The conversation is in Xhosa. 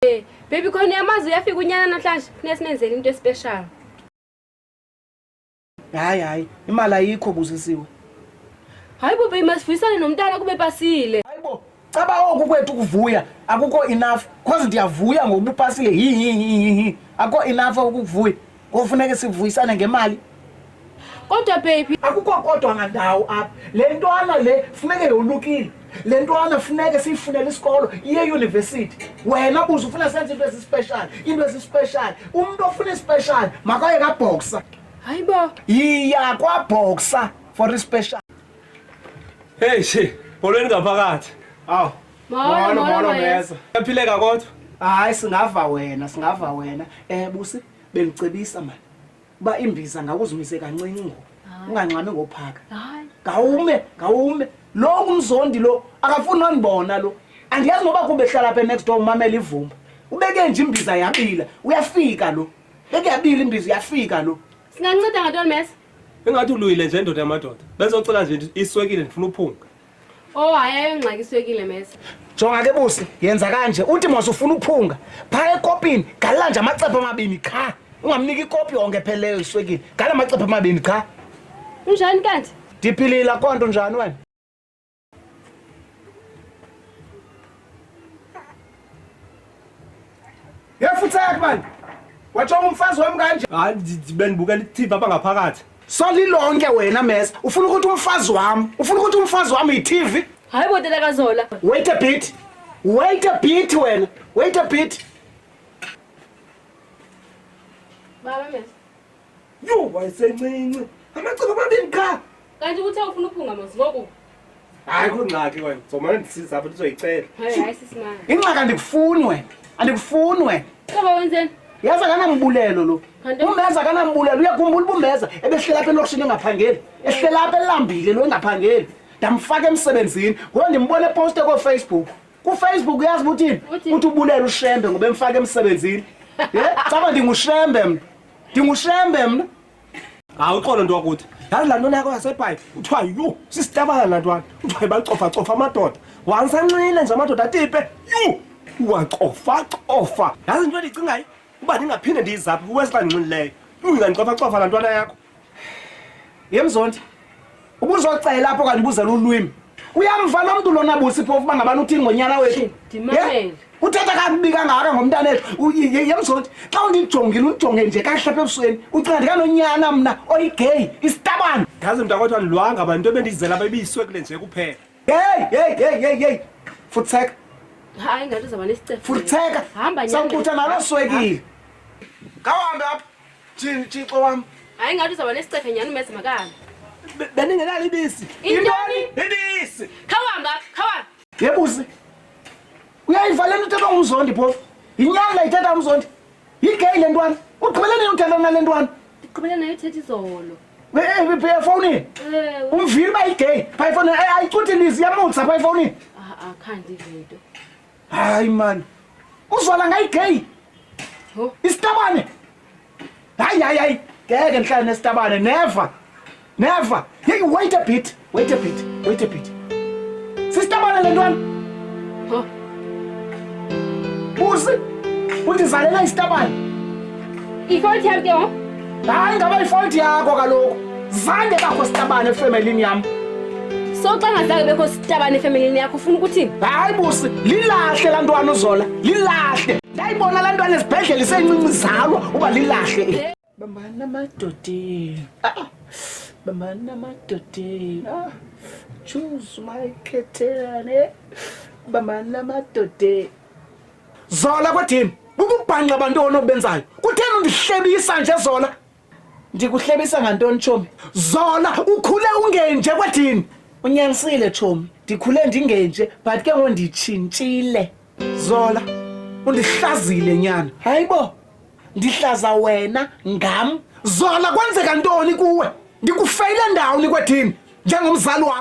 Hey, baby khona uyamazi uyafika unyana namhlanje funeka simenzele into especial hayi hayi imali ayikho buzisiwe hayi bo baby masivuyisane nomntana kube pasile hayi bo caba oku kwethu kuvuya akukho enough cause ndiyavuya ngokuba upasile hihihihi akukho enough ukukuvuya Kofuneke sivuyisane ngemali. Kodwa baby, akukho kodwa ngandawo apha. Le ntwana le funeke yolukile. Le ntwana funeke siyifunele isikolo iye university. Wena buza ufuna senze into ezispecial, into ezispecial. Umuntu ofuna ispecial makaye ka boxer. Hayi bo. Yiya kwa boxer for ispecial. Hey she, bolweni ngaphakathi. Awu. Molo, molo, mesa. Uyaphileka kodwa? Hayi singava wena, singava wena. Eh busi, bengicebisa manje. Uba imbiza ngakuzimise kancinci ngoku. Ungangxami ngophaka. Hayi. Ngawume, ngawume. Lo umzondi lo akafuni nondibona lo. Andiyazi noba kube hlala apha next door umamela ivumba. Ubeke nje imbiza yabila, uyafika lo. Beke yabila imbiza uyafika lo. Singanceda ngatoni mesa? Ingathi uluyile nje ndoda yamadoda. Bezocela nje iswekile ndifuna uphunga. Oh hayi ayongxakiswekile mesa. Jonga ke busi, yenza kanje. Uthi mos ufuna uphunga. Pha ekopini galela nje amacephe amabini qha. Ungamniki ikopi yonke epheleyo iswekile. Gala amacephe amabini qha. Unjani kanti? Ndiphilile konto njani wena? Yefutsak man. Watsho umfazi wam kanje. Hayi bendibukela iTV apha ngaphakathi. Solilonke wena mesa. Ufuna ukuthi umfazi wam, ufuna ukuthi umfazi wam yiTV? Hayi botela kazola. Wait a bit. Wait a bit wena. Wait a bit. Baba mesa. yho wayesencinci amacebo amabini qha kanti uthe ufuna uphunga mos ngoku hayi kho ngxaki wena zomane ndisiza apho ndizoyicela hayi sisimana ingxaki andikufuni wena andikufuni wena qaba wenzeni yazi akanambulelo lo umbeza akanambulelo uyakhumbula uba umbeza ebehlela apha elokishini engaphangeli ehlela apha elambile lo engaphangeli ndamfaka emsebenzini ngoba ndimbona eposte koofacebook kufacebook uyazi uba uthini uthi ubulela ushembe ngoba emfaka emsebenzini ye caba ndingushembe mntu ndingushembe mna hawu uxolo nto wakuthi yazi laa ntona yakho yasebhayi kuthiwa yhu sisitabana laa ntwana kuthiwa ibacofacofa amadoda wansanxile nje amadoda atipe yhu uwacofacofa yazi into endicingayo uba ndingaphinde ndiyizaphi uwesi xa ndinxilileyo yhu ingandicofacofa laa ntwana yakho yemzondi ubuzocela apho kanti ubuzela ulwimi uyamva lo mntu lona busi phofu uba ngabani uthini ngonyana wethu uthetha kakubi kangaka ngomntana ethu yemzondi xa undijongile undijonge nje kahle apha ebusweni ucinga ndikanonyana mna oyigeyi isitabane ndazi mntu akwethiwa ndilwanga abantu into ebendiyizela bebiyiswe kule nje kuphela heyi heyi heyi heyi heyi futseka hayi ngathi uzaba nesicefo futseka sakutha nalo swekile ngawuhambe apha Thini Thixo wam? Hayi ngathi uzaba nesicethe nyani umezi makana. Beningenalo ibisi. Intoni? Ibisi. Khawamba, khawamba. Yebuzi. Uyayiva le nto ithethwa ngumzondi phofu. Yinyanga ithetha umzondi. Yigay le ntwana. Ugqibele nini uthetha nale ntwana? Ndigqibele nayo ithetha izolo. efowunini eh, eh, eh, umvile uba yigay phaa efowunini ayicuthi lizi yamutsa phaa efowunini ah, ah, khandivinto hayi mani uzwala ngayi gay isitabane hayi hayi hayi ngeke ndihlale nesitabane never never hey wait a bit wait a bit wait a bit sisitabane le ntwana busi undizalela isitabane Ifault yam ke ngoku. Hayi ngaba ifault yakho kaloku. Zange bakho sitabane efemelini yam. So xa ngazange bekho sitabane efemelini yakho ufuna ukuthini? Hayi busi, lilahle laa ntwana uzola. Lilahle. Ndayibona laa ntwana esibhedlele isencinci zalwa uba lilahle. eli. Bambani amadodeni. Ah. Bambani amadodeni. Ah. Choose my ketene. Bambani amadodeni. Zola kwedim, bububhanxa bantoni obenzayo? Kutheni undihlebisa nje Zola? Ndikuhlebisa ngantoni tshomi? Zola, ukhule ungenje kwedim. Unyanisile tshomi, ndikhule ndingenje but ke ngoku nditshintshile. Zola, undihlazile nyana. Hayibo, ndihlaza wena ngam. Zola, kwenzeka ntoni kuwe? Ndikufeyile ndawoni kwedim njengomzali wakho.